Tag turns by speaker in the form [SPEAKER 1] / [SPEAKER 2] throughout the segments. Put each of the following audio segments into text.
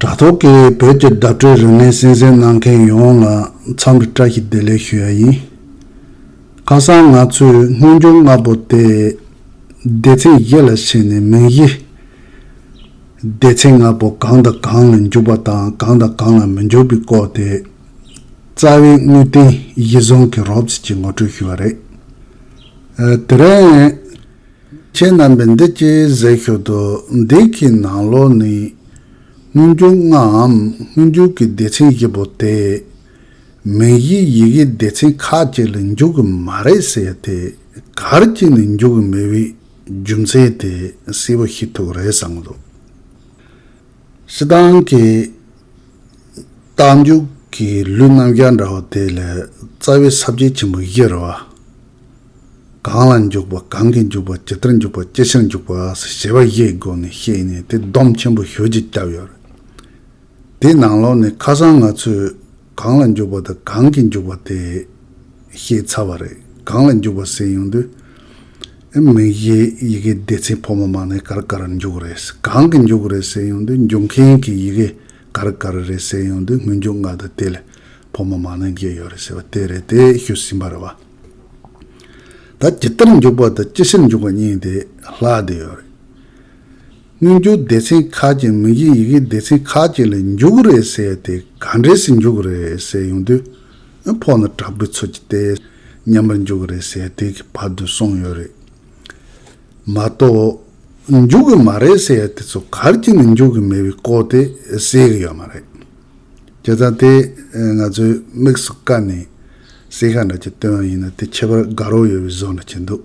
[SPEAKER 1] དྲ་ཐོག་གི་བོད་ཀྱི་བརྡ་སྤྲོད་རིག་གནས་གསན་གཟིགས་གནང་མཁན་ཡོངས་ལ་འཚམས་འདྲི་བཀྲ་ཤིས་བདེ་ལེགས་ཞུ་ཡ་ཡིན། ཁ་སང་ང་ཚོས་སྔོན་འགྱུར་ལྔ་པོ་དེ་སྡེ་ཚན་བཞི་ལ་ཕྱེ་ནས་མིང་གཞི། སྡེ་ཚན་ལྔ་པོ་གང་དང་གང་ལ་འགྱུར་བ་དང་གང་དང་གང་ལ་མི་འགྱུར་བའི་སྐོར་དེ། རྩ་བའི་དངོས་བསྟན་གཞི་བཟུང་གིས་རོབ་ཙེ་གྱིས་ངོ་སྤྲོད་ཞུས་པ་རེད། དེ་རིང། ཁྱེད་རྣམ་པས་འདི་སྐད་གཟིགས་ཤོག་དུ་འདི་གའི་ནང་ལོགས་ནས་སྔོན་འགྱུར་ལྔའམ་སྔོན་འགྱུར་གྱི་སྡེ་ཚན་བཞི་པོ་དེ། མིང་གཞིའི་ཡི་གེའི་སྡེ་ཚན་ཁ་ཅིག་ལས་འཇུག་གི་མ་རེད་ཟེར་ཏེ་གར་གྱིས་ནས་འཇུག་གི་མེད་པའི་རྒྱུ་མཚན་དེ་གསལ་བོ་ཤེས་ཐུབ་རེད་བསམ་གི་འདུག། སི་ཏང་གི་རྟགས་འཇུག་གི་ལུས་རྣམ་རྒྱ་འདྲ་བ་དེ་ལས་རྩ་བའི་གསར་བརྗེ་ཆེན་པོ་བཞི་རེད། གང་ལ་འཇུག་པ་གང་གིས་འཇུག་པ་ཇི་ལྟར་འཇུག་པ་ཅི་ཕྱིར་འཇུག་པ་སོགས་བྱེད་པ་བཞིའི་སྒོ་ནས་བཤད་ནས་དེ་སྡོམ་ཆེན་པོ་ཞོལ་གྱིས་བརྒྱབ་ཡོད་རེད། དེའི་ནང་ལོགས་ནས་ཁ་སང་ང་ཚོས། གང་ལ་འཇུག་པ་དང་གང་གིས་འཇུག་པ་དེ། ཞེས་ཚར་བ་རེད། གང་ལ་འཇུག་པ་ཟེར་ཡོང་དུས། མིང་གཞི་ཡི་གེའི་སྡེ་ཚན་ཕོ་མོ་མ་ནས་ག་རི་ག་རི་འཇུག་རེད། གང་གིས་འཇུག་རེད་ཟེར་ཡོང་དུས་འཇུག་མཁན་གྱི་ཡི་གེ་ག་རི་ག་རི་རེད་ཟེར་ཡོང་དུས་སྔོན་འཇུག་ང་དང་དེ་ལས་ཕོ་མོ་མ་ནས་འགལ་ཡོད་རེད་ཟེར་བ་དེ་རེད་དེ་ཤོད་ཟིན་པ་རེད་བ། ད་ཇི་ལྟར་འཇུག་པ་དང་ཅི་ཕྱིར་འཇུག་པ་གཉིས་དེ་ལྷག་བསྡད་ཡོད་རེད། སྔོན་འགྱུར་སྡེ་ཚན་ཁག་ཅིག་མིང་གཞི་ཡི་གེའི་སྡེ་ཚན་ཁག་ཅིག་ལ་འཇུག་གི་རེད་ཟེར་ཏེ་ག་འདྲས་སུ་འཇུག་གི་རེད་ཟེར་ཡོང་དུས། ཨ་ཕོ་ནི་དྲག་པོའི་ཚུལ་གྱིས་བལྟས། མཉམ་པར་འཇུག་གི་རེད་ཟེར་དུས་ཀྱི་བར་དུ་སོང་ཡོད་རེད། མ་གཏོགས། འཇུག་གི་མ་རེད་ཟེར་དེ་ཚོ་གར་གྱི་ནས་འཇུག་གི་མེད་པའི་སྐོར་དེ་ཟེར་གི་ཡོད་མ་རེད། བྱས་ཙང་དེ་ང་ཚོའི་དམིགས་སུ་བཀར་ནས་ཟེར་ཤ་འདྲ་གཅིག་བཏོན་ཡིན་ན་དེ་ཁྱད་པར་དགའ་རོགས་ཡོད་པའི་བཟོ་འདྲ་བྱེད་འདུག།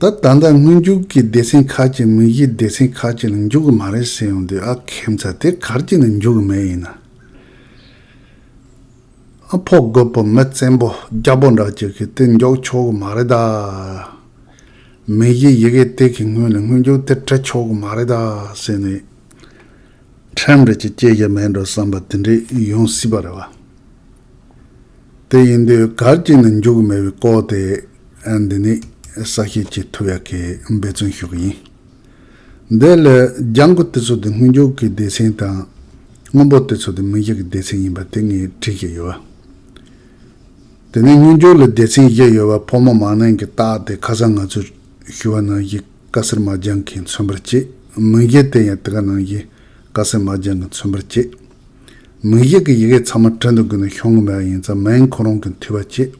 [SPEAKER 1] ད་ད་ལྟ་སྔོན་རྒྱུགས་ཀྱི་སྡེ་ཚན་ཁག་ཅིག་མིག་གཞིའི་སྡེ་ཚན་ཁག་ཅིག་ལ་འཇུག་གི་མ་རེད་ཟེར་ཡོང་དུས་ཨ་ཁེ་མཚར་དེ་གར་ཅིག་ནས་འཇུག་གི་མེད་ཡིན་ན། ཨ་ཕོ་རྒོད་པོ་མི་བཙན་པོ་རྒྱ་པོ་འདྲ་ཅིག་གིས་དེ་མགྱོགས་ཆོག་གི་མ་རེད་ད། མིག་གཞིའི་ཡི་གེ་དེ་གི་སྔོན་ནས་སྔོན་རྒྱུགས་དེ་དྲི་ཆོག་གི་མ་རེད་ད་ཟེར་ནས། ཁྲིམས་རིག་ཅིག་སྐྱེལ་གྱི་མེད་འགྲོ་བསམ་པ་དེ་འདྲས་ཡོང་སྲིད་པ་རེད་བ། དེ་ཡིན་དུས་གར་ཅིག་ནས་འཇུག་གི་མེད་པའི་སྐོར་དེ། འདི་ནི་ས་སྐྱེས་ཀྱི་ཐུ་ཡག་གི་འབད་བརྩོན་ཤོག་ཡིན། འདི་ལ་ལྗང་གུ་དེ་ཚོ་དེ་སྔོན་འཇུག་གི་སྡེ་ཚན་དང། སྔོན་པོ་དེ་ཚོ་དེ་མི་འཇུག་གི་སྡེ་ཚན་ཡིན་པ་དེ་ངས་དྲིས་ཀྱི་ཡོད། དེ་ནས་སྔོན་འཇུག་ལ་སྡེ་ཚན་བཞི་ཡོད་པ་ཕོ་མོ་མ་ནིང་གི་རྟགས་དེ་ཁ་སང་ང་ཚོས་ཞུ་བ་ནང་བཞིན་ཀ་སེར་མ་ལྗང་གིས་མཚོན་པར་བྱེད། མིང་བཞི་དེ་ཡང་དེ་ག་ནང་བཞིན་ཀ་སེར་མ་ལྗང་གིས་མཚོན་པར་བྱེད། མིང་བཞི་གི་ཡི་གེ་ཚང་མ་བྲིན་དུ་དགོས་ན་ཤོང་གི་མེད་པ་ཡིན་ཙང་མིང་ཁོ་རང་གིས་འཐུས་པར་བྱེད།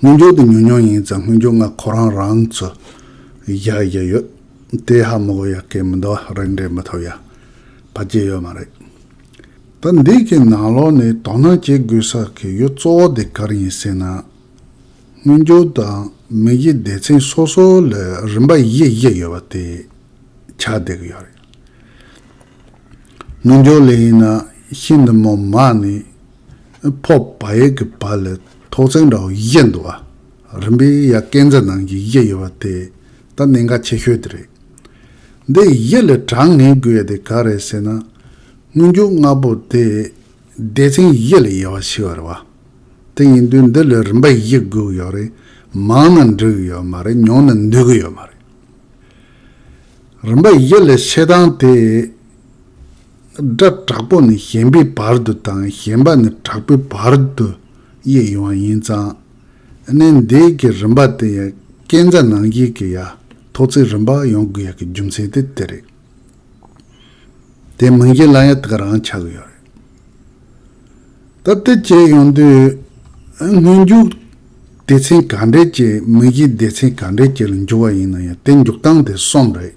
[SPEAKER 1] དངུལ་འབྱོར་དེ་ཉུང་ཉུང་ཡིན་ཙང་དངུལ་འབྱོར་ལྔ་ཁོ་རང་རང་ཚོ་བཞག་བཞག་ཡོད། དེ་ཧ་མོ་གོ་ཡག་གི་མི་འདུག་རིགས་འགྲེ་མི་ཐུབ་ཡ། བ་བརྗེད་ཡོད་མ་རེད། ད་འདི་གི་ནང་ལོག་ནས་དོ་སྣང་བྱེད་དགོས་ས་གི་ཡོད་གཙོ་བོ་དེ་གར་ཡིན་ཟེར་ན། དངུལ་འབྱོར་དང་མི་གཞི་སྡེ་ཚན་སོ་སོ་ལ་རིམ་པ་བཞི་བཞི་ཡོད་པ་དེ་ཆགས་བསྡད་གི་ཡོད་རེད། དངུལ་འབྱོར་ལས་ཡིན་ན་ཤིན་ཏུ་མོ་མ་ནི་ཕོག་པ་ཡས་ཀྱི་བ་ལས་ཐོག་བརྩེགས་འདྲ་བོ་བཞད་འདུག་བ་རིམ་པས་ཡ་སྐས་འཛེར་ནང་གི་ཡས་ཡོད་བ་དེ་ད་གནད་འགག་ཆེ་ཤོས་དེ་རེད། འདི་ཡས་ལས་དྲང་ངེས་དགོས་ཡས་དེ་ག་རེད་ཟེར་ན། སྔོན་འགྱུར་ལྔ་པོ་དེ་སྡེ་ཚན་ཡས་ལས་ཡས་བ་ཞིག་བ་རེད་བ། དེ་ཡིན་དུས་འདི་ལས་རིམ་པ་ཡས་དགོས་གི་ཡོད་རེད་མང་ན་འགྲིག་གི་ཡོད་མ་རེད་ཉུང་ན་འདུས་གི་ཡོད་མ་རེད། རིམ་པ་ཡས་ལས་བཤད་སྟངས་དེ། སྒྲ་དྲག་པོ་ནི་ཞན་པའི་བར་དུ་དང་ཞན་པ་ནི་དྲག་པོའི་བར་དུ་དབྱེ་ཡོང་བ་ཡིན་ཙང། གནས་འདི་གི་རིམ་པ་དེ་ཡང་སྐྱེས་མཛའ་ནང་བཞིན་གྱི་ཡ་ཐོག་ཚིག་རིམ་པ་ཡོང་དགོས་ཡ་གི་རྒྱུ་མཚན་དེ་དེ་རེད། དེ་མིན་གཞན་ལ་ཡང་དག་རང་ཆགས་ཡོད་རེད། ད་ལྟའི་བྱས་ཡོང་དུས་སྔོན་འཇུག་སྡེ་ཚན་ག་འདྲས་ཀྱིས་མིང་གཞིའི་སྡེ་ཚན་ག་འདྲས་ཀྱི་ལ་འཇུག་བ་ཡིན་ན་ཡང་དེ་འཇུག་སྟངས་དེ་གསུམ་རེད།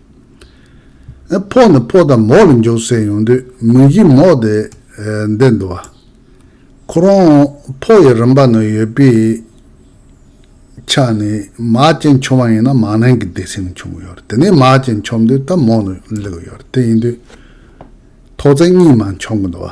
[SPEAKER 1] ཕོག་ནི་ཕོག་དང་མོག་ལ་འཇོག་སའི་ཡོང་དུས་མུན་གྱིས་མོག་དེ་འདེད་འདུག་བ། ཁོ་རང་ཕོག་ཡི་རང་པ་ན་ཡོད་པའི་ཆ་ནས་མག་ཅན་མཆོང་བ་ཡིན་ན་མག་ནན་གྱི་དེ་སེམས་མཆོང་གི་ཡོད་རེད་དེ་ནས་མག་ཅན་མཆོང་དུས་ད་མོག་ནི་ལེགས་ཡོད་རེད་དེ་ཡིན་དུས་ཐོག་བརྩེགས་གཉིས་མ་མཆོང་གི་འདུག་བ།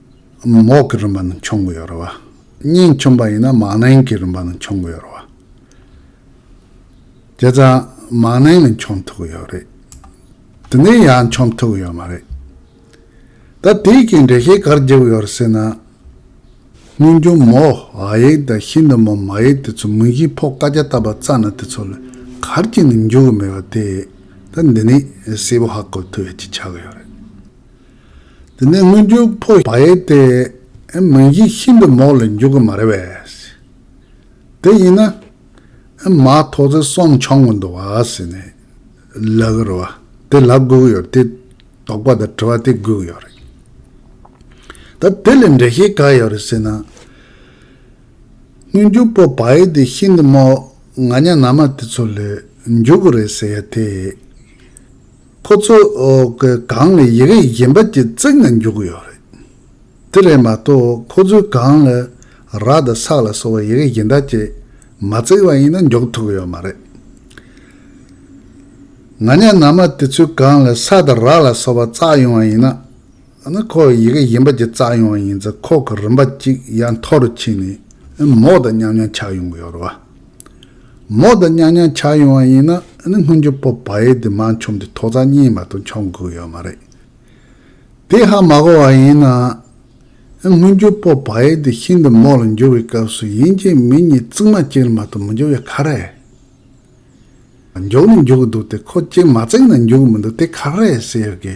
[SPEAKER 1] མོག་གི་རིམ་པ་ནས་འཆོང་གི་ཡོད་རེད་བ། སྙིང་ཆུང་པ་ཡིན་ན་མང་ནན་གྱི་རིམ་པ་ནས་འཆོང་གི་ཡོད་རེད་བ། དེ་ཙང་མང་ནན་ནས་འཆོང་ཐུབ་གི་ཡོད་རེད། དེ་ནས་ཡང་འཆོང་ཐུབ་གི་ཡོད་མ་རེད། ད་དེའི་རྐྱེན་འགྲེལ་བཤད་གར་བགྱི་གི་ཡོད་རེད་ཟེར་ན། སྙིང་ཆུང་མོག་ཨ་ཡིག་དང་ཤིན་ཏུ་མོག་མ་ཡིག་དེ་ཚོ་མིང་གཞིའི་ཕོག་བཀའ་རྒྱ་བཏབ་པ་རྩ་ནས་དེ་ཚོ་ལ་གར་བགྱི་ནས་འཇུག་གི་མེད་པ་དེ། ད་འདི་ནས་གསལ་པོ་ཧ་གོ་ཐུབ་ཡ་གཅིག་ཆགས་གི་ཡོད་རེད། དེ་ནས་སྔོན་འཇུག་ཕོ་བ་ཡིན་ཏེ། མིང་གཞི་ཤིན་ཏུ་མོག་ལ་འཇུག་གི་མ་རེད་བས། དེ་ཡིན་ན། མ་ཐོག་ཚེ་གསུམ་འཆང་གི་འདུག་བས། ལ་གི་རུ་བ་དེ་ལ་སྒུག་ཡོད་རེད་དེ། དོགས་པ་དང་དྲི་བ་དེ་སྒུག་ཡོད་རེད། ད་དེ་ལས་འགྲེལ་བཤད་ག་ཡོད་རེད་ཟེར་ན། སྔོན་འཇུག་ཕོ་བ་ཡིན་ཏེ་ཤིན་ཏུ་མོག་ང་གཉའ་ན་མ་དེ་ཚོ་ལས་འཇུག་གི་རེད་ཟེར་ཡ་དེ། ཁོ་ཚོ་གི་སྒང་ལ་ཡི་གེ་གཞན་པ་གཅིག་བརྩེགས་ནས་འཇོག་གི་ཡོད་རེད། དེ་རེད་མ་གཏོགས་ཁོ་ཚོའི་སྒང་ལ་ར་དང་སག་ལ་སོགས་པ་ཡི་གེ་གཞན་དག་ཅིག་མ་བརྩེགས་པ་ཡིན་ན་འཇོག་ཐུབ་གི་ཡོད་མ་རེད། ང་ཉག་ནང་མ་དེ་ཚོའི་སྒང་ལ་ས་དང་ར་ལ་སོགས་པ་བརྩགས་ཡོང་བ་ཡིན་ན། ཡང་ན་ཁོ་ཡི་གེ་གཞན་པ་ཅིག་བཙགས་ཡོང་བ་ཡིན་ཚེ་ཁོག་གི་རིན་པ་གཅིག་ཡ་མཐོ་རུ་ཕྱིན་ནས་ཨེ་མོག་དང་མཉམ་མཉམ་ཆགས་ཡོང་གི་ཡོད་རེད་བ། མོག་དང་མཉམ་མཉམ་ཆགས་ཡོང་བ་ཡིན་ན་ཨེ་སྔོན་རྒྱུ་སྤོབས་བ་ཡེ་དེ་མ་འཆོམས་ཏེ་ཐོག་རྩ་གཉིས་མ་ཏོག་འཆོམས་དགོས་ཡོད་མ་རེད། དེ་ཧ་མ་གོ་བ་ཡིན་ན་ཨེ་སྔོན་རྒྱུ་སྤོབས་བ་ཡེ་དེ་ཤིན་ཏུ་མོག་ལ་འགྱུར་བའི་སྐབས་སུ་ཡིན་གཅིག་མིན་གཉིས་རྩིག་མ་གཅིག་ལ་མ་ཏོག་མི་འགྱུར་བའི་ཁ་རེད། མགྱོགས་ནས་འགྱུར་གི་འདུག་དེ་ཁོ་གཅིག་མ་བརྩིགས་ན་འགྱུར་གི་མི་འདུག་དེ་ཁ་རེད་ཟེར་ཡོད་ཀི།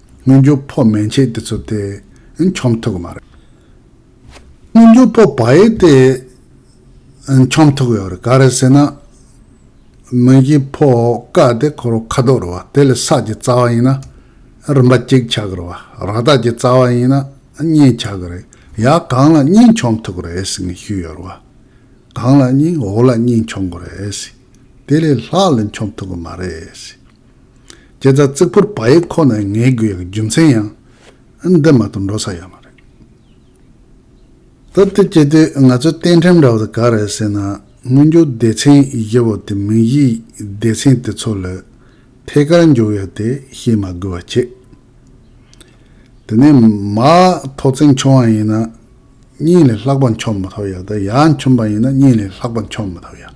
[SPEAKER 1] སྔོན་འགྱུར་ཕོ་མན་ཆད་དེ་ཚོ་དེ་འཁྱོམ་ཐུབ་གི་མ་རེད། སྔོན་འགྱུར་ཕོ་བ་ཡིས་དེ་འཁྱོམ་ཐུབ་གི་ཡོད་རེད་ག་རེད་ཟེར་ན། མོན་གྱི་ཕོ་ཀ་དེ་ཁོ་རང་ཁ་དོག་རེད་བ་དེ་ལས་སག་གི་རྩ་བ་ཡིན་ན་རིན་པ་གཅིག་ཆགས་གི་རེད་བ་ར་སྟག་གི་རྩ་བ་ཡིན་ན་གཉིས་ཆགས་གི་རེད་ཡ་གང་ལ་གཉིས་འཁྱོམ་ཐུབ་གི་རེད་ཟེར་ནས་ཞུས་ཡོད་རེད་བ། གང་ལ་གཉིས་འོག་ལ་གཉིས་འཁྱོམ་གི་རེད། དེ་ལས་ལྷག་ལ་འཁྱོམ་ཐུབ་གི་མ་རེད། ཁྱེད་རྩ་གཙིགས་པོར་བ་ཡེ་ཁོ་ན་ངའི་རྒྱུ་ཡང་རྒྱུ་མཚན་ཡང། འདི་མ་གཏོགས་འགྲོ་ས་ཡོད་མ་རེད། སྟབས་བདེ་སྐྱེ་དུས་ང་ཚོས་གཏན་ཁྲིམས་འདྲ་བོ་དེ་ག་རེད་ཟེར་ན་སྔོན་འགྱུར་སྡེ་ཚན་བཞི་བོ་དེ་མིང་གཞིའི་སྡེ་ཚན་དེ་ཚོ་ལས་ཐད་ཀར་འགྱུར་ཡོད་དེ་ཤེས་མ་དགོས་བ་ཁྱེད། དེ་ནས་མ་ཐོག་བརྩེགས་འཁྱོམ་བ་ཡིན་ན་གཉིས་ལས་ལྷག་པ་འཁྱོམ་མ་ཐོག་ཡག་དེ་ཡག་འཁྱོམ་པ་ཡིན་ན་གཉིས་ལས་ལྷག་པ་འཁྱོམ་མ་ཐོག་ཡག།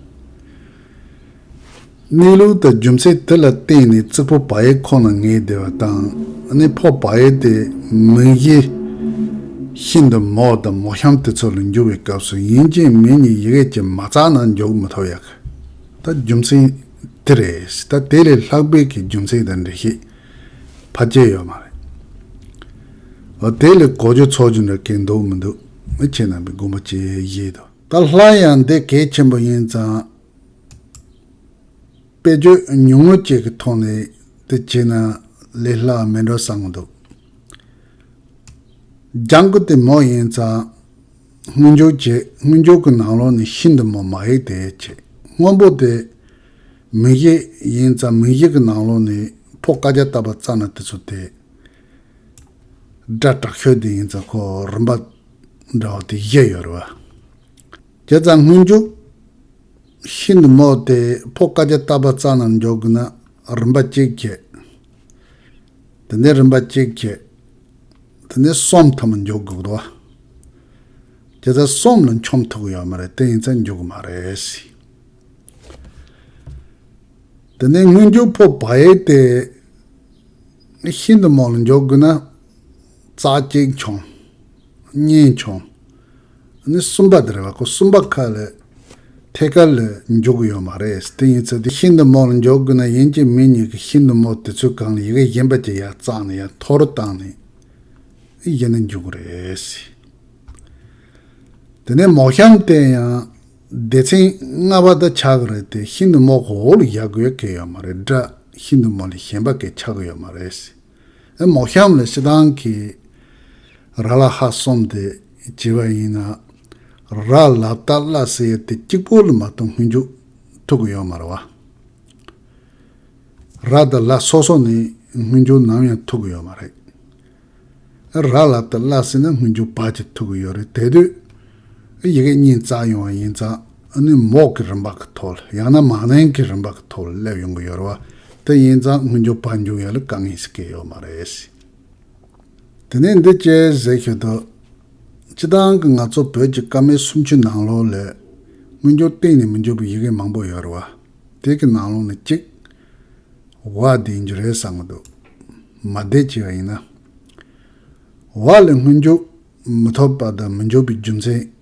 [SPEAKER 1] གནས་ལུགས་དང་རྒྱུ་མཚན་དེ་ལ་བརྟེན་ནས་རྩིག་པོ་བ་ཡེ་ཁོ་ན་ངེས་བདེ་བ་དང་གནས་ཕོག་བ་ཡེ་དེ་མིང་གཞི་ཤིན་ཏུ་མོག་དང་མོག་ཤམ་དེ་ཚོ་ལ་འགྱུར་བའི་སྐབས་སུ་ཡིན་ཅིང་མིན་གཉིས་ཡི་གེ་གཅིག་མ་བརྩགས་ན་འཇོག་མི་ཐུབ་ཡག་ད་རྒྱུ་མཚན་དེ་རེད་ད་དེ་ལས་ལྷག་པའི་གི་རྒྱུ་མཚན་དང་འགྲེལ་བཤད་ཕ་སྐྱེལ་ཡོད་མ་རེད་འོ་དེ་ལས་གོ་རྒྱུ་ཚོགས་རྒྱུ་འདྲ་གས་འདུག་མི་འདུག་ཁྱེད་རྣམ་པའི་དགོངས་པ་ཇི་བཞེད་དོ། ད་ལྷ་ཡང་འདི་གལ་ཆེན་པོ་ཡིན་ཙང། དཔེ་བརྗོད་ཉུང་ངུ་ཅིག་གི་ཐོག་ནས་དེ་བྱས་ན་ལས་སླ་བ་མིན་འགྲོ་བསམ་གྱི་འདུག་ལྗང་ཁུ་དེ་མོ་ཡིན་ཙང་དངུལ་འབྱོར་བྱེད་དངུལ་འབྱོར་གྱི་ནང་ལོགས་ནས་ཤིན་ཏུ་མོ་མ་ཡིན་དེ་བྱེད་སྔོན་པོ་དེ་མིང་གཞི་ཡིན་ཙང་མིང་གཞི་གི་ནང་ལོགས་ནས་ཕོ་བཀའ་རྒྱ་བཏབ་པ་བཙལ་ན་དེ་ཚོ་དེ་སྒྲ་དྲག་ཤོས་དེ་ཡིན་ཙང་ཁོ་རིམ་པ་འདྲ་བ་དེ་བཞི་ཡོད་རེད་བ། བརྒྱ་རྩ་སྔོན་འཇུག། ཤིན་ཏུ་རྨོག་སྟེ་ཕོ་དཀར་རྒྱ་སྟག་པ་རྩ་རྣམས་འཇོག་དགོས་ན་རིམ་པ་གཅིག་བྱས། དེ་ནས་རིམ་པ་གཅིག་བྱས། དེ་ནས་གསུམ་ཐ་མ་འཇོག་དགོས་བ། བརྒྱ་རྩ་གསུམ་ལ་འཁྱོམ་ཐུབ་གི་ཡོད་མ་རེད་དེ་ཡིན་ཚ་འཇུག་གི་མ་རེད། དེ་ནས་སྔོན་འཇུག་ཕོ་བལ་ཏེ། ཤིན་ཏུ་རྨོག་ལ་འཇོག་དགོས་ན། རྩ་གཅིག་འཁྱོམ། གཉིས་འཁྱོམ། ནི་གསུམ་པ་དེར་བ་ཁོ་གསུམ་པ་ཁ་ལས་ཐད་ཀར་ལས་འཇོག་གི་ཡོད་མ་རེད་དེ་ཡིན་ཚོད་དེ་ཤིན་ཏུ་མོར་འཇོག་དགོས་ན་ཡིན་གྱི་མི་གཉིས་ཀྱི་ཤིན་ཏུ་མོར་དེ་ཚོའི་གང་ཡི་གེ་གཞན་པ་གྱི་ཡག་གཙང་ནས་ཡང་མཐོ་རུ་བཏང་ནས་གཞན་ནས་འཇོག་གི་རེད། དེ་ནས་མོག་གཤམ་བསྟན་ཡང་སྡེ་ཚན་ལྔ་པ་དག་ཆགས་ཀྱི་རེད་དེ་ཤིན་ཏུ་མོག་གོ་བོ་ལ་བཞག་དགོས་གལ་ཡོད་མ་རེད་དྲ་ཤིན་ཏུ་མོ་ལས་གཞན་པ་གས་ཆགས་གི་ཡོད་མ་རེད། ཨེ་མོ་ཤམ་ལ་ཤི་དང་གི། ར་ལ་ཧ་སོམ་དེ་བྱེད་པ་ཡིན་ན། ར་ལ་ཏཱ་བླ་སེ་ཡེ་དེ་གཅིག་པོ་ལ་མ་གཏོགས་སྔོན་འཇུག་ཐུག་གི་ཡོད་མ་རེད་བ། ར་ཏཱ་བླ་སོ་སོ་ནི་སྔོན་འཇུག་ནམ་ཡང་ཐུག་གི་ཡོད་མ་རེད། ཨེ་ར་ལ་ཏཱ་བླ་སེ་ནི་སྔོན་འཇུག་བར་གྱི་ཐུག་གི་ཡོད་རེད་དེ་དུས་ཨེ་ཡི་གེ་གཉིས་བཙགས་ཡོང་བ་ཡིན་ཙང། ནུས་མོག་གི་རིམ་པ་གི་ཐོག་ལ་ཡང་ན་མང་ནན་གི་རིམ་པ་གི་ཐོག་ལ་སླེབས་ཡོང་གི་ཡོད་རེད་བ། དེ་ཡིན་ཙང་དངུལ་འཇོག་པར་འཇུག་ཡོད་ལ་དཀའ་ངལ་ཞིག་གི་ཡོད་མ་རེད། དེ་ནས་འདི་སྐད་ཟེར་ཤོད་དོ། སྤྱི་བཏང་གི་ང་ཚོ་བོད་ཀྱི་ཀ་མད་སུམ་ཅུ་ནང་ལོགས་ལས། དངུལ་འཇོག་གཏན་ནས་མི་འཇོག་པའི་ཡི་གེ་མང་པོ་ཡོད་རེད་བ། དེ་གི་ནང་ལོགས་ནས་གཅིག། བ་དེ་ཡིན་རྒྱུ་རེད་བསམ་གི་འདུག་མ་བདེ་སྐྱིད་བ་ཡིན་ན། བ་ལས་དངུལ་འཇོག་མི་ཐོབ་པ་དང་མི་འཇོག་པའི་རྒྱུ་མཚན།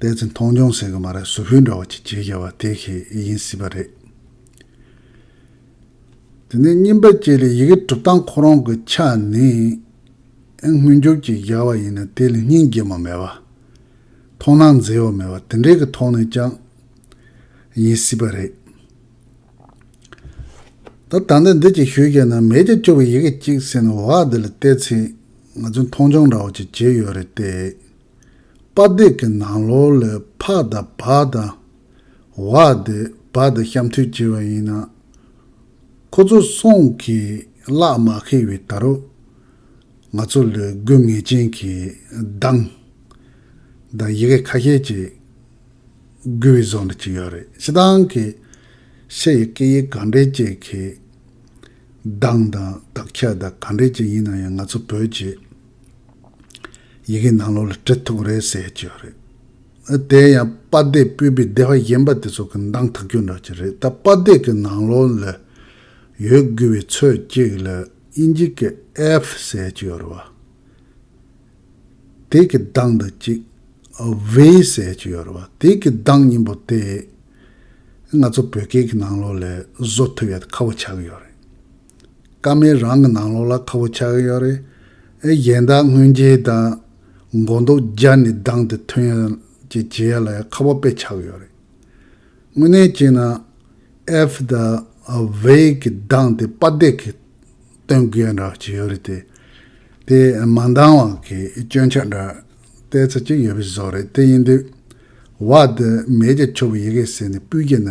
[SPEAKER 1] དཔལ་ཚེ་མཐོང་སྦྱོང་ཟེར་གི་མ་རེད་ཟུར་ཕུད་འདྲ་བ་གཅིག་བྱེད་བྱ་བ་དེ་ཤེས་ཨེ་ཡིན་སྲིད་པ་རེད། དེ་ནས་རྙིང་པ་བཅས་ལས་ཡི་གེ་གྲུབ་སྟངས་ཁོ་རང་གི་ཕྱག་ནི་དངོས་འབྱོར་གྱིས་བཞག་བ་ཡིན་ན་དེ་ལས་སྙིང་རྗེ་མོ་མེད་བ། མཐོང་སྣང་མཛེས་བ་མེད་བ་དེ་འདྲའི་གི་ཐོག་ནས་ཀྱང་ཡིན་སྲིད་པ་རེད། ད་ད་ལྟ་འདི་གཅིག་ཞུས་བྱས་ན་མེད་ཀྱི་སྤྱོ་བའི་ཡི་གེ་གཅིག་ཟེར་ནས་འོ་ཨ་འདི་ལ་ལྟས་ཚེ་ང་ཚོས་མཐོང་སྦྱོང་འདྲ་བ་གཅིག་བྱེད་ཡོད་རེད་ལྟས། དཔའ་སྡེ་གི་ནང་ལོ་ལས་ཕ་དང་བ་དང། བ་དེ་བ་དང་གཤམ་མཐུད་བྱས་པ་ཡིན་ན། ཁོ་ཚོ་སོང་གིས་གླག་མ་ཁེལ་བའི་ད་རུ། ང་ཚོ་ལས་དགོས་ངེས་ཅན་གྱི་གདངས། དང་ཡི་གེ་ཁ་ཤས་ཅིག་འགུལ་བའི་བཟོ་འདྲ་ཅིག་ཡོད་རེད་ཕྱི་ཐང་གི་ཕྱི་ཡི་སྐད་ཡིག་གང་འདྲ་ཅིག་གི་གདངས་དང་དག་ཆ་དང་གང་འདྲ་ཅིག་ཡིན་ན་ཡང་ང་ཚོ་བོད་ཀྱི། ཡི་གེ་ནང་ལོགས་ལ་དྲི་ཐུག་རེད་ཟེར་ཡག་ཀྱི་རེད། ཨ་དེ་ཡང་དཔའ་སྡེ་སྤོས་པའི་སྡེ་བ་གཞན་པ་དེ་ཚོ་གི་མདང་ཐག་གྱོན་འདྲ་ཀྱི་རེད་ད་དཔའ་སྡེ་གི་ནང་ལོགས་ལ་ཡོད་དགོས་པའི་ཚོད་ཅིག་ལ་ཨིན་ཇི་གི་ཨེབ་ཟེར་ཀྱི་ཡོད་རེད། དེ་གི་མདང་འདི་གཅིག་བྷི་ཟེར་ཀྱི་ཡོད་རེད་དེ་གི་མདང་གཉིས་པོ་དེ་ང་ཚོ་བོད་སྐད་གི་ནང་ལོགས་ལ་བཟོ་ཐུབ་ཡག་ཁ་བོ་ཆགས་ཡོད་རེད། ཀ་མེད་རང་གི་ནང་ལོགས་ལ་ཁ་བོ་ཆགས་ཀྱི་ཡོད་རེད། ཨེ་གཞན་དག་སྔོན་རྗེས་དང། མགོ་འདོགས་སྦྱར་ནས་སྡང་དེ་ཐོན་ཡོད་ཅེས་བྱེད་ཡ་ལ་ཡང་ཁ་བ་དཔེ་ཆགས་ཀྱི་ཡོད་རེད། དངོས་གནས་བྱས་ན། ཨེཕ་དང་བྷེ་གི་སྡང་དེ་དཔའ་འདེགས་ཀྱིས་སྟོན་དགོས་འདྲ་བྱས་ཡོད་རེད་དེ། དེ་མ་འདང་བ་གི་སྐྱོན་ཆ་འདྲ་བལྟས་ཚར་གྱི་ཡོད་པའི་བཟོ་རེད་དེ་ཡིན་དུས། བ་དེ་མེད་ཀྱི་ཆོ་བོ་ཡི་གེ་ཟེར་ནས་སྤུས་ཀྱི་ན།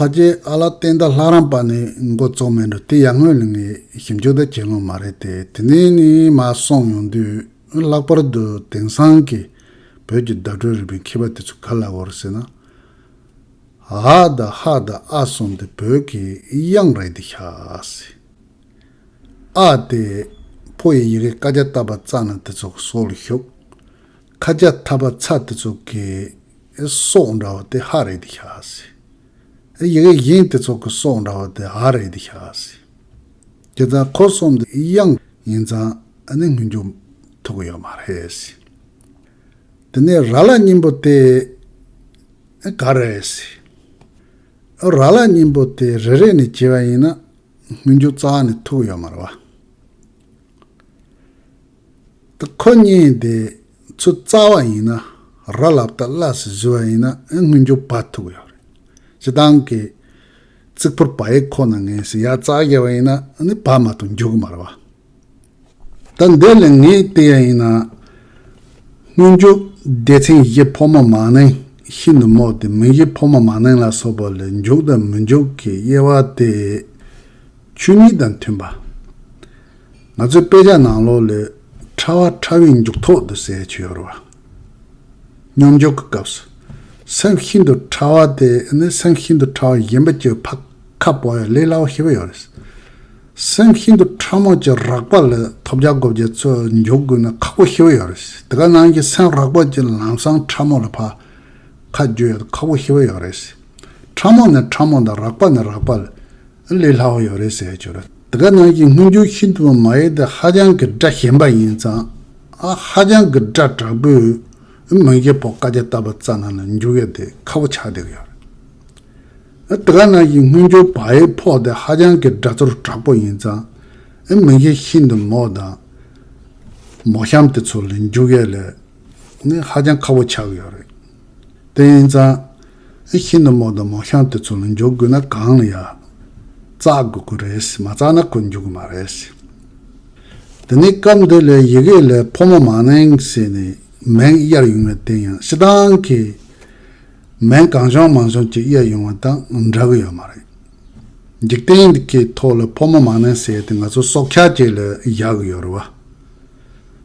[SPEAKER 1] ཕ་རྗེས་ཨ་ལ་བསྟན་དར་ལྷ་རམས་པ་ནི་འགོ་བཙུགས་མེད་འགྲོ་དེ་ཡར་སྔོན་ལ་ངའི་ཞིབ་འཇུག་དང་བྱེད་ལོང་མ་རེད་དེ་དེ་ནས་ནི་མ་སོང་ཡོང་དུས་ལྷག་པར་དུ་དེང་སང་གི་བོད་ཀྱི་བརྡ་སྤྲོད་རིག་པའི་མཁས་པ་དེ་ཚོ་ག་ལ་བོར་ཟེར་ན། ཨ་དང་ཧ་དང་ཨ་གསུམ་དེ་བོད་ཀྱི་དབྱངས་རེད་འདི་ཤ་སི། ཨ་དེ་ཕོ་ཡི་ཡི་གེ་ཀ་རྒྱ་བཏབ་པ་བཙགས་ན་དེ་ཚོ་སྲོག་ལ་ཞུགས། ཁ་སྐྱ་ཐབ་པ་ཚ་དེ་ཚོ་གི་སྲོག་འདྲ་བ་དེ་ཧ་རེད་དེ་ཤ་སྲི། ཡི་གེ་གཞན་དེ་ཚོ་གི་སྲོག་འདྲ་བ་དེ་ཨ་རེད་དེ་ཤ་སྲི། དེ་ཙང་ཁོ་གསུམ་དེ་དབྱངས་ཡིན་ཙང་ནི་ངུ་འཇུག་ཐུབ་གི་ཡོད་མ་རེད་སྲི། དེ་ནས་ར་ལ་སྙིང་པོ་དེ་ག་རེད་སྲི། ར་ལ་སྙིང་པོ་དེ་རེ་རེ་ནས་བྱས་པ་ཡིན་ན་ངུ་འཇུག་ཙང་ནི་ཐུབ་གི་ཡོད་མ་རེད་བ། ཏུ་ཁོ་རྙེད་དེ་ཚོད་རྩ་བ་ཡིན་ན་ར་ལབ་ཏུ་གླ་ཟེར་བཞི་བ་ཡིན་ན་དངུལ་འགྱོ་བ་ཐུག་ཡོད་རེད་སྤྱི་བཏང་གི་རྩིག་ཕོར་བ་ཡིག་ཁོ་ན་ངན་ཟེར་ཡ་རྩ་བརྒྱད་བ་ཡིན་ན་བ་མ་ཐུག་འགྱོ་གི་མ་རེད་བ་ད་འདི་ལས་ངས་བལྟས་ཡ་ཡིན་ན་དངུལ་འགྱོ་སྡེ་ཚན་བཞི་ཕོ་མོ་མ་ནིང་ཤིན་ཏུ་མོ་དེ་མི་བཞི་ཕོ་མོ་མ་ནིང་ལ་སོགས་པ་ལས་འགྱོ་དང་མི་འགྱོ་གི་དབྱེ་བ་དེ་ཆོས་ཉིད་དང་མཐུན་པ། ང་ཚོའི་དཔེ་ཆ་ནང་ལོ་ལོས་ཕྲ་བ་ཕྲ་བའི་མཇུག་ཐོག་ཏུ་ཟས་མཆོད་ཡོད་རེད། སྙོམས་འཇུག་གི་སྐབས་སུ་སེམས་ཤིན་ཏུ་ཕྲ་བ་དེ་ནི་སེམས་ཤིན་ཏུ་ཕྲ་བ་གཞན་པ་ཀྱི་ཕ་ཁ་བོ་ཡང་ལས་སླ་བོ་ཤི་བོ་ཡོད་རེད། སེམས་ཤིན་ཏུ་ཕྲ་མོ་ཀྱི་རགས་པ་ལ་ཐོབ་བྱ་སྒོ་བརྒྱད་ཚོ་འཇོག་དགོས་ན་ཁག་པོ་ཤི་བོ་ཡོད་རེད། དེ་ག་ནང་གི་སེམས་རགས་པ་ཀྱི་ལམ་སང་ཕྲ་མོ་ལ་ཕ་ཁ་བརྗོད་ཡོད་ཁག་པོ་ཤི་བོ་ཡོད་རེད། ཕྲ་མོ་ནི་ཕྲ་མོ་དང་རགས་པ་ནི་རགས་པ་ལ། ལས་སླ་བོ་ཡོད་རེད་ཟེར་ཡག་བྱུང་རེད། དེ་ག་ནང་བཞིན་མངོན་འགྱུར་ཤིན་ཏུ་བ་མ་ཡིན་ཏེ་ཧ་ཅང་གི་སྒྲ་ཞན་པ་ཡིན་ཙང་ཧ་ཅང་གི་སྒྲ་དྲག་པོས་མིང་རྗེ་བོ་བཀའ་རྒྱ་བཏབ་པ་ཙ་ན་ན་འགྱུར་ཡོད་དེ་ཁ་བོ་ཆགས་བསྡད་ཀྱི་ཡོད་རེད། དེ་ག་ནང་བཞིན་མངོན་འགྱུར་བ་ཡི་ཕོག་དེ་ཧ་ཅང་གི་སྒྲ་ཚོར་དྲག་པོ་ཡིན་ཙང་མིང་རྗེ་ཤིན་ཏུ་མོ་དང་མོ་གཤམ་དེ་ཚོ་ལས་འགྱུར་ཡོད་ལས་ནི་ཧ་ཅང་ཁ་བོ་ཆགས་ཀྱི་ཡོད་རེད། བསྟན་བཟང། ཨེ་ཤེས་ནུ་མོ་དང་མོ་ཤང་དེ་ཚོ་ལ་འཇོག་དགོས་ན་གང་ལ་ཡ། བཙག་དགོས་ཀྱི་རེད་མ་བཙག་ན་ཁོ་འཇུག་གི་མ་རེད། དེ་ནས་སྐབས་འདི་ལས་ཡི་གེ་ལས་ཕོ་མོ་མ་གནང་ཟེར་ནས་མེང་གཡར་ཡོང་བའི་རྟེན་ཡང་ཤི་ཏང་གིས་མེང་གང་བྱུང་མང་བྱུང་ཅིག་གཡར་ཡོང་བ་དང་འདྲ་གི་ཡོད་མ་རེད། འཇིག་རྟེན་འདི་གའི་ཐོག་ལ་ཕོ་མོ་མ་གནང་ཟེར་དེ་ང་ཚོ་སྲོག་ཆགས་ཅིག་ལ་བཞག་གི་ཡོད་རེད་བ།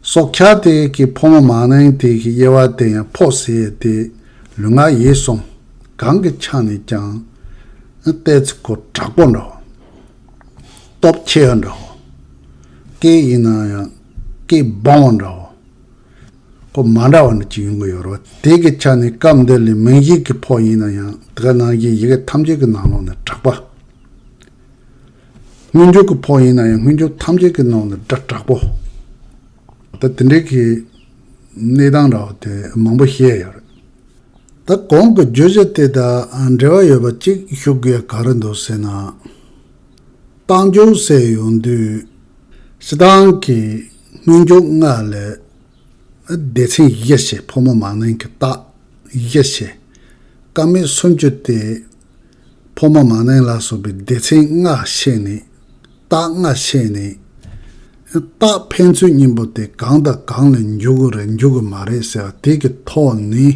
[SPEAKER 1] སྲོག་ཆགས་དེ་གི་ཕོ་མོ་མང་ནའི་དེ་གི་དབྱེ་བ་དེ་ཡང་ཕོག་ཟས་དེ་ལུས་ངག་ཡིད་གསུམ་གང་གི་ཆ་ནས་ཀྱང་ཏེ་ཚིག་གོ་དྲག་པོ་འདྲ་བོ། སྟོབས་ཆེ་བ་འདྲ་བོ། སྐད་ཡིན་ན་ཡང་སྐད་སྦོང་བ་འདྲ་བོ། གོ་མ་འདྲ་བ་འདྲ་གཅིག་ཡོང་གི་ཡོད་རོ། དེ་གི་ཆ་ནས་སྐབས་འདི་ལས་མིང་གཞིག་གི་ཕོག་ཡིན་ན་ཡང་དེ་ག་ནང་གཞིག་ཡི་གེ་ཐམས་ཅད་ཀྱི་ནང་ལོགས་ནས་དྲག་པ། མངོན་འགྱུར་གྱི་ཕོགས་ཡིན་ན་ཡང་མངོན་འགྱུར་ཐམས་ཅད་ཀྱི་ནང་ནས་སྒྲ་དྲག་པོ། ད་དེ་འདྲའི་གི་གནས་སྟངས་ར་བ་དེ་མང་པོ་བཤད་ཡོད་རེད། ད་གོང་གི་བརྗོད་བྱ་དེ་དང་འབྲེལ་བ་ཡོད་པ་གཅིག་ཞུ་དགོས་ག་རེ་འདུག་ཟེར་ན། བཏང་འབྱོར་བསལ་ཡོང་དུས། སྤྱི་བཏང་གི་མངོན་འགྱུར་ལྔ་ལས། སྡེ་ཚན་བཞི་ཞེས་ཕོ་མོ་མང་ནན་གྱི་རྟགས་བཞི་ཞེས། ཀ་མད་སུམ་ཅུ་སྟེ། ཕོ་མོ་མ་ནིང་ལ་སོགས་པའི་སྡེ་ཚན་ལྔ་བཤད་ནས། རྟགས་ལྔ་བཤད་ནས། རྟགས་ཕན་ཚུན་གཉིས་པོ་དེ་གང་དང་གང་ལ་འཇུག་གི་རེད་འཇུག་གི་མ་རེད་ཟེར་བ་དེ་གི་ཐོག་ནས་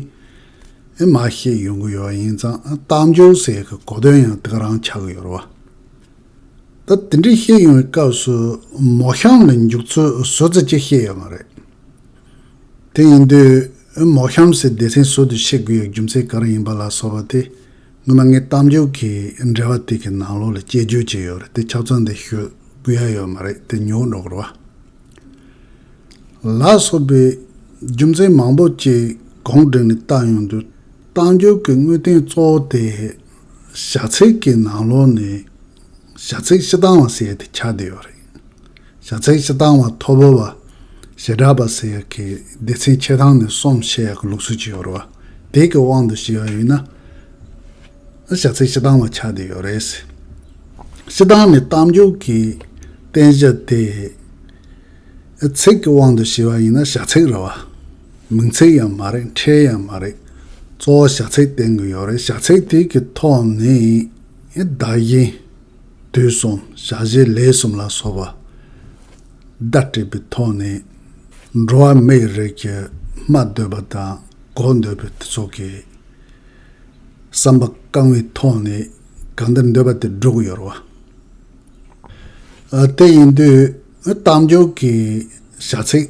[SPEAKER 1] མ་ཤེས་ཡོང་གི་ཡོད་ཡིན་ཙང་རྟགས་འཇུག་ཟེར་གི་གོ་དོན་ཡང་དེ་ག་རང་ཆགས་གི་ཡོད་རེད་བ། ད་དེ་འདྲས་བཤད་ཡོང་བའི་སྐབས་སུ་མོ་གཤམ་ལ་འཇུག་ཚུལ་བཟོ་རྩལ་གཅིག་བཤད་ཡོད་མ་རེད། དེ་ཡིན་དུས། མོ་གཤམ་གསལ་སྡེ་ཚན་སོགས་དུ་ཤེས་དགོས་ཡའི་རྒྱུ་མཚན་ག་རེ་ཡིན་པ་ལ་སོགས་པ་དེ་སྔོན་མ་ངའི་གཏམ་རྒྱུད་ཀྱི་འགྲེལ་བ་དེ་གི་ནང་ལོགས་ལ་དཔྱད་བརྗོད་བྱས་ཡོད་རེད་དེ་ཕྱག་ཚོད་འདི་ཞུ་དགོས་ཡ་ཡོད་མ་རེད་དེ་ཉོག་འགྲོ་གོ་རོ། ལ་སོགས་པའི་རྒྱུ་མཚན་མང་པོ་བཅས་གོང་བསྒྲིགས་ནས་བཏགས་ཡོང་དུས་གཏམ་རྒྱུད་ཀྱི་དངོས་བསྟན་གཙོ་བོ་དེ་བྱ་ཚིག་གི་ནང་ལོགས་ནས་བྱ་ཚིག་ཤི་སྟངས་ལ་ཟེར་ཏེ་ཆགས་བསྡད་ཡོད་རེད། བྱ་ཚིག་སྤྱི་དང་བ་ཐོ་བོ་བ། ཞེ་དྲག་པ་ཟེར་ཡག་གི་སྡེ་ཚན་ཆེ་ཐང་ནས་གསུམ་བཤད་ཡག་གི་ལུགས་སྲོལ་གྱི་ཡོ་རོ་བ་དེ་གི་དབང་དུ་བྱས་པ་ཡིན་ན། བྱ་ཚིག་སྤྱི་དང་བ་ཆགས་དེ་ཡོ་རེད། སྤྱི་དང་ནས་གཏམ་རྒྱུད་ཀྱི་བསྟན་བྱ་དེ། ཚིག་གི་དབང་དུ་བྱས་པ་ཡིན་ན་བྱ་ཚིག་རེད་བ། མིང་ཚིག་ཡང་མ་རེད་འཕྲལ་ཡང་མ་རེད། གཙོ་བོ་བྱ་ཚིག་བསྟན་གི་ཡོ་རེད་བྱ་ཚིག་དེ་གི་ཐོག་ནས་བདག་གཞན། དུས་གསུམ་བྱ་བྱེད་ལས་གསུམ་ལ་སོགས་པ། བརྡ་སྤྲད་པའི་ཐོག་ནས། འགྲོ་བ་མིའི་རིགས་ཀྱི་སྨྲ་འདོད་པ་དང་གོ་འདོད་པའི་དེ་ཚོ་གི། བསམ་པ་བསྐང་བའི་ཐོག་ནས་གང་འདི་འདོད་པ་དེ་སྒྲུབ་ཀྱི་ཡོད་རེད། དེ་ཡིན་དུས་གཏམ་རྒྱུད་ཀྱི་བྱ་ཚིག་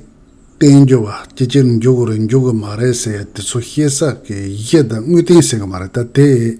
[SPEAKER 1] བསྟན་རྒྱུ་བ་ཅི་ཅིར་འཇུག་གི་རེད་འཇུག་གི་མ་རེད་ཟེར་ཡ་དེ་ཚོ་ཤེས་ས་ཀྱི་གཞི་དང་དངོས་སྟེང་ཟེར་གི་མ་རེད་ད་དེ།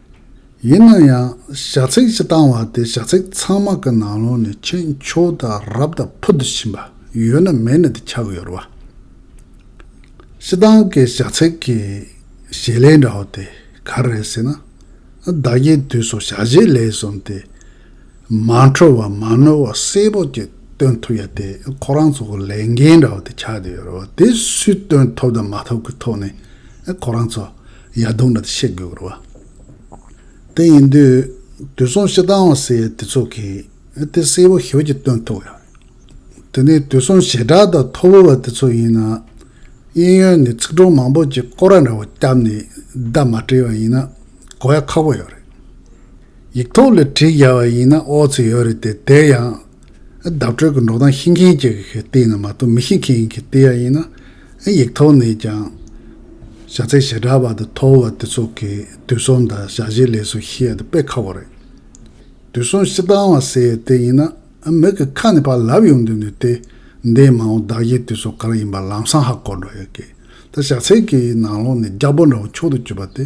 [SPEAKER 1] ཡིན་ན་ཡང་ཞྭ་ཚིགས་ཀྱི་བཏང་བ་དེ་ཞྭ་ཚིགས་ཚང་མ་གི་ནང་ལོགས་ནས་ཁྱེད་མཆོག་ད་རབ་ད་ཕུ་དུ་ཕྱིན་པ་ཡོད་ན་མེད་ན་དེ་ཆགས་གི་ཡོད་རེད་བ། ཤི་ཏང་གི་ཞྭ་ཚིགས་ཀྱི་ཞལ་ལས་འདྲ་བ་དེ་ག་རེད་ཟེར་ན། བདག་གི་དུས་སུ་ཞྭ་བཞི་ལས་གསུམ་དེ་མ་འཕྲོ་བ་མ་ནོར་བ་གསལ་པོ་གཅིག་སྟོན་ཐུབ་ཡ་དེ་ཁོ་རང་ཚོ་གི་ལས་འགན་འདྲ་བོ་དེ་ཆགས་བསྡད་ཡོད་རེད་བ་དེ་སུས་སྟོན་ཐུབ་དང་མ་ཐུབ་ཀྱི་ཐོག་ནས་ཁོ་རང་ཚོ་ཡ་རྡུང་འདྲ་དེ་བཤད་དགོས་ཀྱི་རེད་བ། དེ་ཡིན་དུས་དུས་གསུམ་ཞེ་སྡང་བ་ཟེར་ཡ་དེ་ཚོ་གིས་དེ་གསལ་པོ་ཞིབ་ཀྱིས་སྟོན་ཐུབ་ཡ་རེད། དེ་ནས་དུས་གསུམ་ཞེ་དྲག་དང་མཐོ་བོ་བ་དེ་ཚོ་ཡིན་ན་གཡས་གཡོན་ནས་ཚིག་གྲོགས་མང་པོ་ཅིག་ཀོ་ར་འདྲ་བོ་བསྐྱབས་ནས་བརྡ་མ་སྤྲད་བ་ཡིན་ན་གོ་ཡ་ཁག་པོ་ཡོད་རེད། ཡིག་ཐོག་ལ་བྲིས་བཞག་པ་ཡིན་ན་ཨོ་ཚོད་ཡོད་རེད་དེ་དེ་ཡང། བརྡ་སྤྲོད་ཀྱི་འགྲོ་སྟངས་ཤེས་མཁན་གྱི་སྟེང་ནས་མ་གཏོགས་མི་ཤེས་མཁན་གྱི་སྟེང་ཡང་ཡིན་ན། ཡིག་ཐོག་ནས་ཀྱང། བྱ་ཚད་ཞེ་དྲག་པ་དང་མཐོ་བ་དེ་ཚོ་གི་དུས་གསུམ་དང་བྱ་བྱེད་ལས་སུ་ཤེས་ཡག་དང་དཔེ་ཁག་པོ་རེད། དུས་གསུམ་བཤད་སྟངས་བ་ཟེར་ཡོད་དེ་ཡིན་ན། མིག་གི་ཁ་ནས་ཕར་ལབ་ཡོང་དུས་ནས་དེ་འདས་མ་འོངས་བདག་གཞན་དུས་ཚོད་གང་ཡིན་པ་ལམ་སང་ཧ་གོ་འགྲོ་ཡོད་སྐད། ད་བྱ་ཚད་ཀྱི་ནང་ལོགས་ནས་རྒྱ་པོ་འདྲ་བོ་མཆོག་ཏུ་གྱུར་པ་དེ།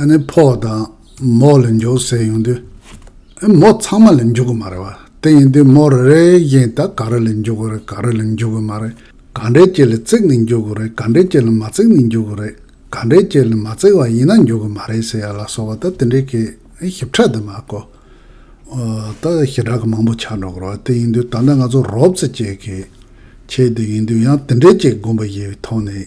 [SPEAKER 1] ཨ་ནི་ཕོག་དང་མོག་ལ་འཇོག་ཟེར་ཡོང་དུས། ཨེ་མོག་ཚང་མ་ལ་འཇོག་གི་མ་རེད་བ། དེ་ཡིན་དུས་མོག་རེ་རེ་བཞིན་ད་ག་རེ་ལ་འཇོག་གི་རེད་ག་རེ་ལ་འཇོག་གི་མ་རེད་ག་འདྲའི་སྐྱེ་ལ་བརྩིགས་ནས་འཇོག་གི་རེད་ག་འདྲའི་སྐྱེ་ལ་མ་བརྩིགས་ནས་འཇོག་གི་རེད་ག་འདྲའི་སྐྱེ་ལ་མ་བརྩིགས་བ་ཡིན་ན་འཇོག་གི་མ་རེད་ཟེར་ཡ་ལ་སོགས་པ་ད་དེ་འདྲའི་གི་ཞིབ་ཕྲ་དུ་མ་གོ། ད་ཞི་དྲག་གི་མང་པོ་ཆགས་འགྲོ་གི་རེད་བ། དེ་ཡིན་དུས་ད་ལྟ་ང་ཚོ་རོབ་ཙེ་སྐྱེས་གི། ཁྱེད་དེ་ཡིན་དུས་ཡང་དེ་འདྲའི་སྐྱེ་དགོངས་པ་ཞིག་གི་ཐོག་ནས།